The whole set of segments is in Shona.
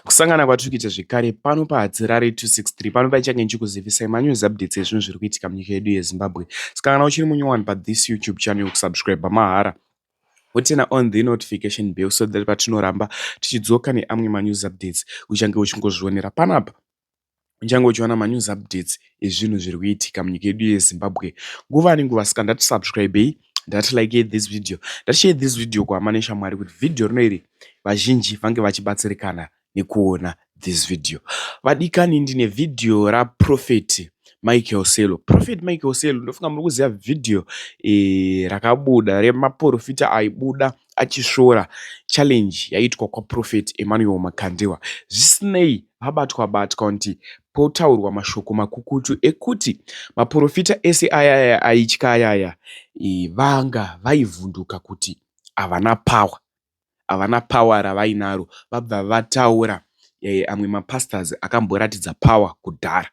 Kusangana kwatiri kuita zvekare pano paHadzirare 263 pano paichange ndichikuzivisai manews updates ezvinhu zviri kuitika munyika yedu yeZimbabwe. Saka kana uchiri munyowani pathis YouTube channel kusubscribe mahara wotena on the notification bell so that patinoramba tichidzoka neamwe manews updates uchange uchingozvionera panapa. uchange uchiwana manews updates ezvinhu zviri kuitika munyika yedu yezimbabwe nguva nenguva saka ndati subscribei ndati like this video ndati share this video kuhama neshamwari kuti vhidhiyo rino iri vazhinji vange vachibatsirikana nekuona this video vadikani ndine vhidhiyo raprofeti michael selo profet michael selo ndofunga muri kuziva vhidhiyo e, eh, rakabuda remaprofita aibuda achisvora challenge yaitwa kwaprofet emmanuel makandiwa zvisinei pabatwa-batwa kuti potaurwa mashoko makukutu ekuti maporofita ese ayaya aitya ayaya vanga vaivhunduka kuti havana power, havana power ravainaro vabva vataura amwe mapastors akamboratidza power kudhara.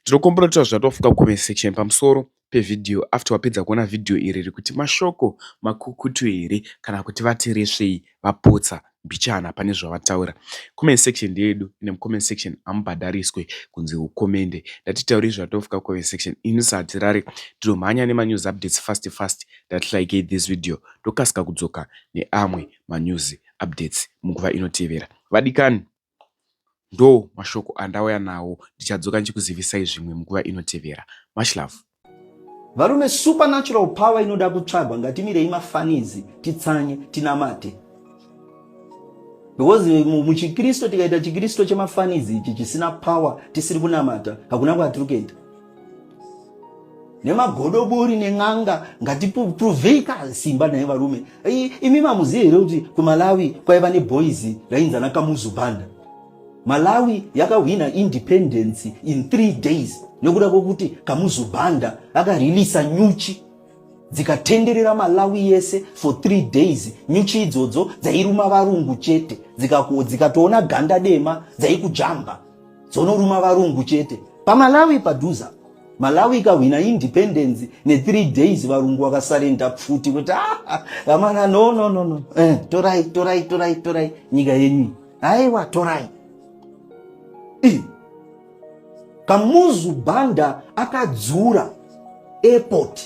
Ndinokumbira kuti vazvati wafunga comment section pamusoro pevideo after wapedza kuona video iri rekuti mashoko makukutu here kana kuti vati resvei vapotsa mbichana pane zvavataura. Comment section ndeyedu ende mucomment section hamubhadhariswe kunzi ukomende. Ndatitaurei zvati wafunga comment section ini sahatirare ndinomhanya nemanews updates fast fast ndati likei this video ndokasika kudzoka neamwe manews updates munguva inotevera vadikani. Ndoo mashoko andauya nawo ndichadzoka ndichikuzivisai zvimwe munguva inotevera. Much love. Varume supernatural power inoda kutsvagwa ngatimirei mafanizi titsanye tinamate because muchikristu tikaita chikristu chemafanizi ichi chisina power tisiri kunamata hakuna kwatiri kuenda nemagodobori nen'anga ngatiprovei kasimba naye varume imi mamuziye here kuti kumalawi kwaiva neboys rainzana kamuzubanda malawi yakahwina independence in three days nekuda kwokuti kamuzubanda akarelisa nyuchi dzikatenderera malawi yese for three days nyuchi idzodzo dzairuma varungu chete dzikatoona dzika ganda dema dzaikujamba dzonoruma varungu chete pamalawi padhuza malawi ikahwina independence ne3 days varungu vakasarenda pfuti kuti ah, vamana no no no no eh, torai torai torai torai nyika yenyu aiwa torai I. kamuzu banda akadzura airport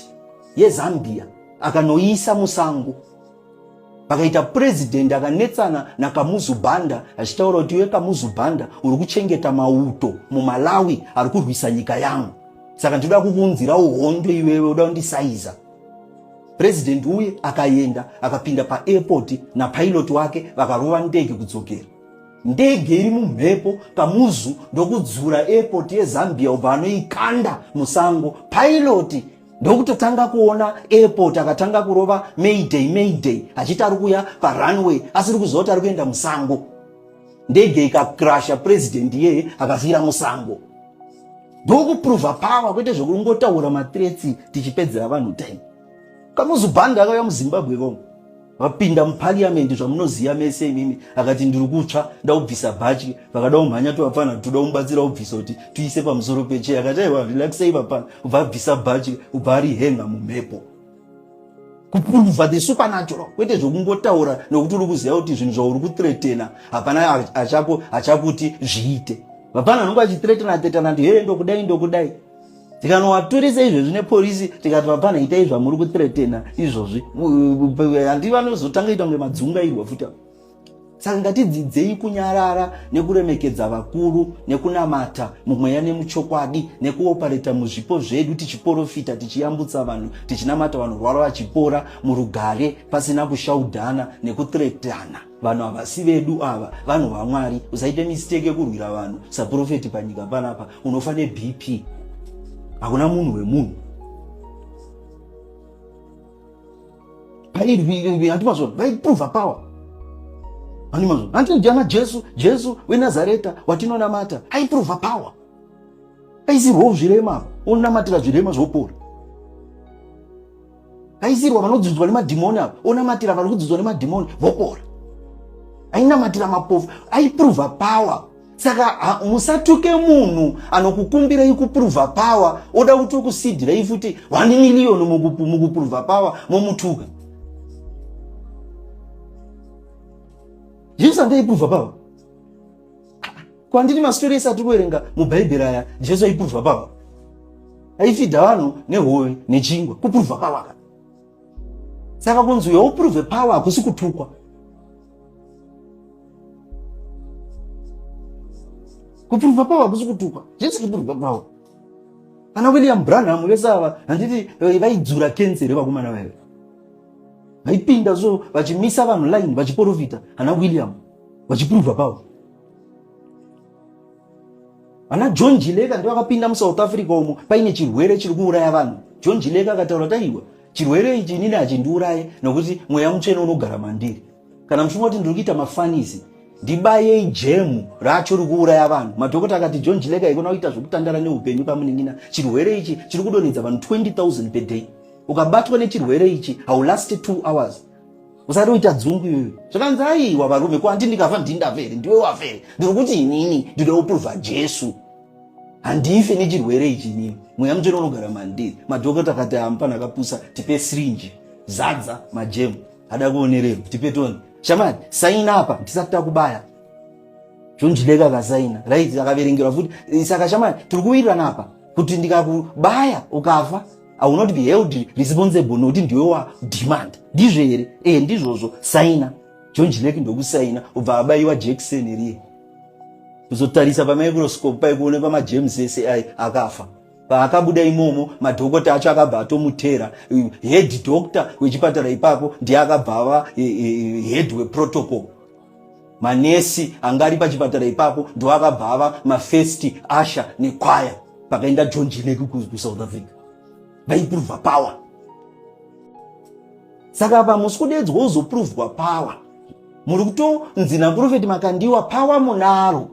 yezambia akanoisa musango vakaita purezidhendi akanetsana nakamuzu banda achitaura kuti iwe kamuzu banda uri kuchengeta mauto mumalawi ari kurwisa nyika yangu saka ndinoda kukuunzirawo hondo iwewe uda kundisaiza purezidhendi uye akaenda akapinda paairpoti napailoti wake vakarova ndege kudzokera ndege iri mumhepo kamuzu ndokudzura airpoti yezambia ubva anoikanda musango pailoti ndokutotanga kuona airport akatanga kurova mayday mayday achiti ari kuuya parunway asiri kuziva kuti ari kuenda musango ndege ikakrasha president iyeye akafira musango ndokupruvha power kwete zvekungotaura matretsi tichipedzera vanhu time kamuzubhandi akauya muzimbabwe ivongo vapinda muparliament zvamunoziva mese imimi akati ndiri kutsva ndaubvisa bhachi vakada umhanya tovapfanha toda umubatsira ubvisa kuti tuise pamusoro peche akati aiwa relaxei vapana kubva abvisa bhachi kubva ari henga mumhepo kupulva the supernatural kwete zvokungotaura nokuti uri kuziva kuti zvinhu zvauri kutretena hapana achakuti zviite vapana vanonge vachitretena tretana kuti hee ndokudai ndokudai tikanovatoresa izvezvi nepolisi tikati vapana itai zvamuri kutretena izvozvi handi vanozotanga ita kunge madzungairwa futi avo saka ngatidzidzei kunyarara nekuremekedza vakuru nekunamata mumweya nemuchokwadi nekuopareta muzvipo zvedu tichiporofita tichiyambutsa vanhu tichinamata vanorwara vachipora murugare pasina kushaudhana nekutretana vanhu havasi vedu ava vanhu vamwari usaite mistake yekurwira vanhu saprofeti panyika panapa unofa nebp hakuna munhu wemunhu andimazo vaiprova power andimazo andiana jesu jesu wenazareta watinonamata aiprova power aisirwawo zvirema onamatira zvirema zvopora kaisirwa vanodzudzwa nemadhimoni ava onamatira vari kudzudzwa nemadhimoni vopora ainamatira mapofu aiprova power saka musatuke munhu anokukumbirai kuprova power oda kuti ukusidirai futi one million mukuprova power momutuka jesu andaiprova power Kwandiri masitori ese atiri kuverenga mubhaibheri aya Jesu aipuruvha pava. Aifidha vanhu nehove nechingwa kupuruvha pava ka. Saka kunzi uyo upuruvhe pava hakusi kutukwa. Kupuruvha pava hakusi kutukwa. Jesu kupuruvha pava. Ana William Branham vese ava handiti eh, vaidzura kenzi here vakomana vaive. Vaipinda so vachimisa vanhu line vachiporofita ana William vachipuruvha pava. vana john jileka ndovakapinda musouth africa umo paine chirwere chiri kuuraya vanhu john jileka akataura taiwa chirwere ichi inini hachindiuraye nokuti mweya mutsvene unogara mandiri kana muchimwa kuti ndiri kuita mafanisi ndibayei jemu racho rikuuraya vanhu madhokota akati john jileka ikona kuita zvekutandara neupenyu pamunin'ina chirwere ichi chiri kudonhedza vanhu 20000 per day ukabatwa nechirwere ichi haulasti 2 hours usati uita dzungu iyoyo zvakanzi aiwa varume ko andi ndikafa ndindave here ndiwe wafe here ndiri kuti inini ndida kuprova jesu handife nechirwere ichi inini mweya mutsvene unogara mandiri madhokota akati amupana akapusa tipe srinji zadza majemu ada kuonererwa tipe toni shamani saina apa ndisati takubaya zvonjideka akasaina right akaverengerwa futi saka shamani tiri kuwirirana apa kuti ndikakubaya ukafa I will not be held responsible nokuti ndiwe wa demand ndizvo here ee ndizvozvo saina john jilek ndokusaina ubva abaiwa jekiseni riye kuzotarisa pamicroscope paikuone pamajames ese ai akafa paakabuda imomo madhokota acho akabva atomutera head doctor wechipatara ipapo ndiye akabva ava head weprotocol manesi anga ari pachipatara ipapo ndoakabva ava mafirst asha nekwaya pakaenda john jineku kusouth africa vaipruvha power saka pa musi kudedzwa wozopruvhwa power muri kutonzi naprofeti makandiwa power munaro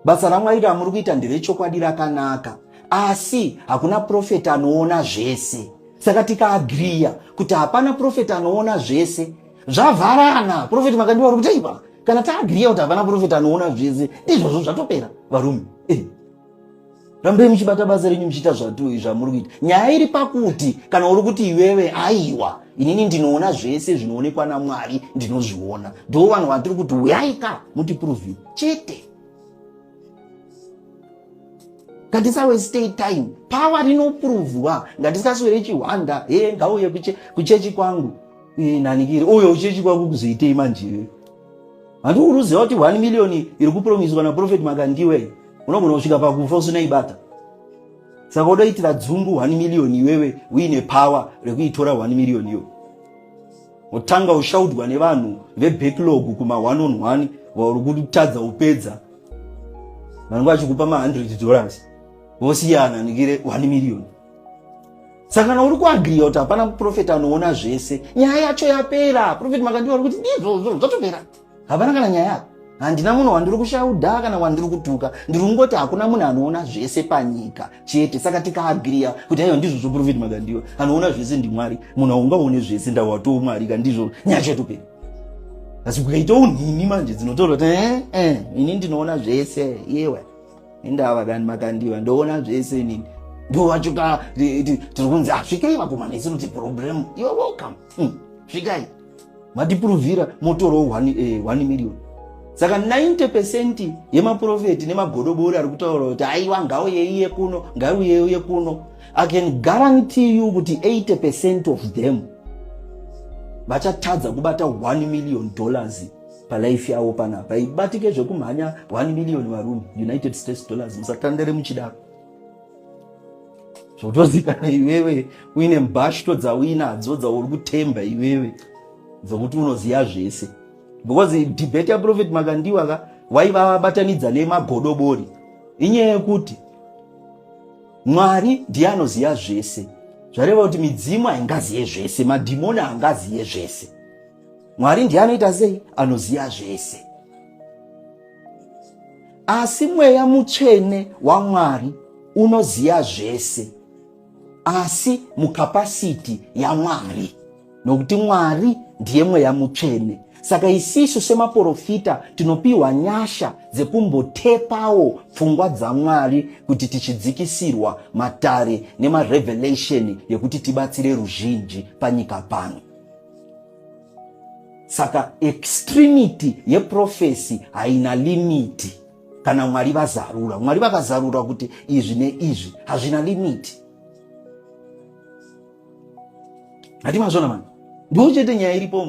basa ramwari ramuri kuita nderechokwadi rakanaka asi hakuna profeti anoona zvese saka tikaagriya kuti hapana profeti anoona zvese zvavharana profeti makandiwa uri kutei pa kana taagriya kuti havana profeti anoona zvese ndizvozvo zvatopera varume eh. rambai muchibata basa renyu muchiita zvatoi zvamuri kuita nyaya iri pakuti kana uri kuti iwewe aiwa inini ndinoona zvese zvinoonekwa namwari ndinozviona ndo vanhu vatiri kuti uyaika mutiprovi chete ngatisawe stay time pawa rinoprovwa ngatisaswere chihwanda he ngauye kuchechi kwangu Eh, nanikiri uyo uchechi kwako kuzoitei manjiwe handi uruziva kuti 1 million iri kupromiswa naprofet makandiwe unogona kusvika pakufa usina ibata saka udoitira dzungu 1 million iwewe uine power rekuitora 1 million iyo wotanga ushaudwa nevanhu vebacklog kuma 1 on 1 vauri kutadza upedza vanenge vachikupa ma 100 dollars vosiyana nikire 1 million saka kana uri kuagriya kuti hapana muprofeti anoona zvese nyaya yacho yapera profeti makandiwa ri kuti ndizvozvo zvatopera hapana kana nyaya yako handina munhu wandiri kushauda kana wandiri kutuka ndiri kungoti hakuna munhu anoona zvese panyika chete saka tikaagriya kuti aiwa ndizvo zvoprofeti makandiwa anoona zvese ndimwari munhu aungaone zvese ndawatoo mwari ka ndizvo nyaya chatopera asi kukaitawo nhimi manje dzinotorwa kuti ee eh, eh, ini ndinoona zvese yewa indava kani makandiva ndoona zvese nini ndovachuka tiri kunzi asvikai ah, vakomana isi kuti problem you're welcome hmm, svikai matipuruvhira motorowo 1 eh, million saka 90 percent yemaprofeti nemagodobori ari kutaura kuti aiwa ngauyeiye kuno ngaiuyeiye kuno i can guarantee you kuti 80 percent of them vachatadza kubata 1 million dollars palife yavo pana paibatike zvekumhanya 1 million varume united states dollars musatandere muchidaro zvotozikana iwewe uine mbashto dzauinadzo dzauri kutemba iwewe dzokuti unoziva zvese because debate yaprofet makandiwa ka waivabatanidza nemagodobori inyaya yekuti mwari ndiye anoziva zvese zvareva kuti midzimu haingaziye zvese madhimoni haangaziye zvese mwari ndiye anoita sei anoziva zvese asi mweya mutsvene wamwari unoziva zvese asi mukapasiti yamwari nokuti mwari ndiye mweya mutsvene saka isisu semaporofita tinopiwa nyasha dzekumbotepawo pfungwa dzamwari kuti tichidzikisirwa matare nemarevelation yekuti tibatsire ruzhinji panyika pano saka extremity yeprofesi haina limiti kana mwari vazarura mwari vakazarura kuti izvi neizvi hazvina limiti hati mazvona mani ndiwo chete nyaya iripo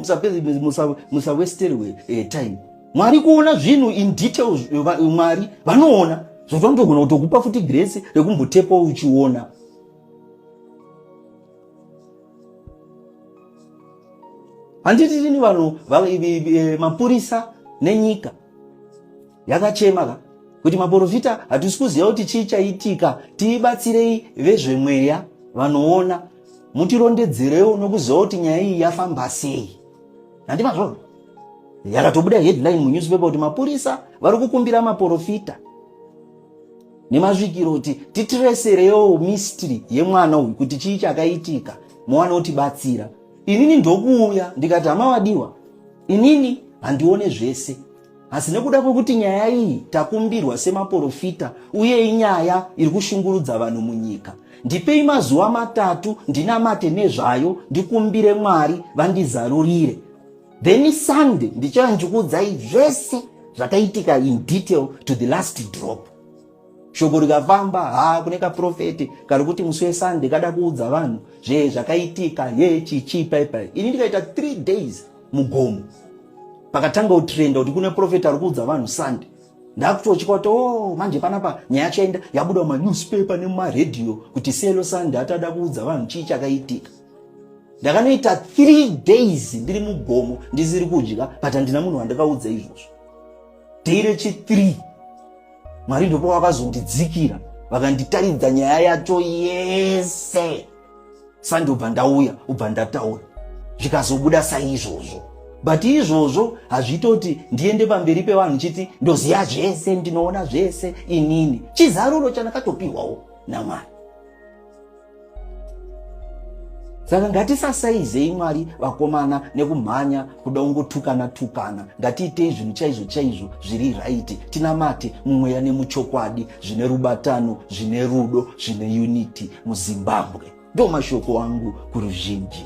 musawesterwe eh, time mwari kuona zvinhu in detail mwari vanoona zvotonogona kutokupa futi grace rekumbotepa uchiona handiti tini vanhu mapurisa nenyika yakachema ka kuti maporofita hatisi kuziva kuti chii chaitika tiibatsirei vezvemweya vanoona mutirondedzerewo nokuziva kuti nyaya iyi yafamba sei handi mazvoo yakatobuda headline munewspaper kuti mapurisa vari kukumbira maporofita nemazvikiro kuti titireserewo mystery yemwana uyu kuti chii chakaitika mwana otibatsira inini ndokuuya ndikati hama wadiwa inini handione zvese asi nekuda kwekuti nyaya iyi takumbirwa semaporofita uye inyaya iri kushungurudza vanhu munyika ndipei mazuva matatu ndinamate nezvayo ndikumbire mwari vandizarurire then sunday ndichava ndichikuudzai zvese zvakaitika in detail to the last drop shoko rikafamba ha kune kaprofeti kari kuti musi wesunday kada kuudza vanhu zve zvakaitika ye chichii paipai ini ndikaita three days mugomo pakatanga utrenda kuti kune profeti ari kuudza vanhu sunday ndakutochika kuti o oh, manje panapa nyaya yacho yaenda yabuda mumanewspaper nemumaradio kuti selo sunday atada kuudza vanhu chii chakaitika ndakanoita three days ndiri mugomo ndisiri kudya but handina munhu wandakaudza izvozvo day rechithree mwari ndopa vakazondidzikira vakanditaridza nyaya yacho yese sandobva ndauya ubva ndataura zvikazobuda saizvozvo but izvozvo hazvitoti ndiende pamberi pevanhu chiti ndoziva zvese ndinoona zvese inini chizaruro chandakatopiwawo namwari saka ngatisasaizei mwari vakomana nekumhanya kuda ungotukana tukana ngatiitei zvinhu chaizvo chaizvo zviri raiti tinamate mumweya nemuchokwadi zvine rubatano zvine rudo zvine unity muzimbabwe ndo mashoko angu kuruzhinji